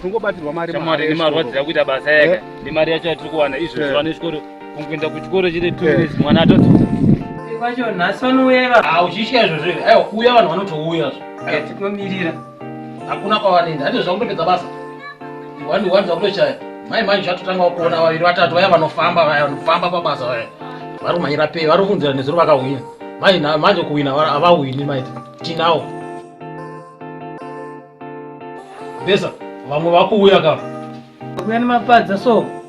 kungobatirwa mari mari nemarwadziya kuita basa yake eh? nemari yacho yatiri kuwana izvo eh. zvivana chikoro kungoenda kuchikoro chiri two eh. years mwana atoti kwacho nhasi vanouya va ha uchitya izvozvo aiwa kuuya vanhu vanotouya zvo tinomirira hakuna kwavanoenda hande zvakutopedza basa Wani wanza kutochaya. Mai mai zvatotanga kuona vaviri vatatu vaya vanofamba vaya vanofamba pabasa vaya. Vari kumanyira pei vari kunzira nezuro vakahwina. Mai na manje kuwina avahwini mai tinawo. Besa vamwe vakuuya kama. Kuya nemapadza so.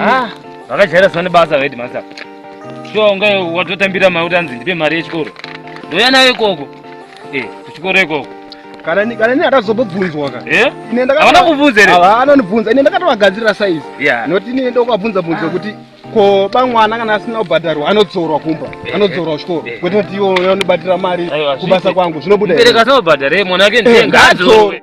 Ah, vakajaira zivane basa vedi masa shuwa unga watotambira mari kuti anzi ndipe mari yechikoro ndouya nayo ikoko eh, kuchikoro ikoko kana ni- kana ni atazobobvunzwa ka Eh? Ine ndakatova- Havana kubvunza here? Hava, anondibvunza ine ndakatovagadzirira saizi Yeah. noti ine ndokabvunza bvunza kuti ko bamwana kana asina kubhadharwa anodzorwa kumba anodzorwa kuchikoro kwete kuti iwo anobatira mari Aiwa, kubasa zviti. kwangu zvinobuda here? Mubereki asaobhadhare mwana wake Eh, ndenga ngadzo. adzorwe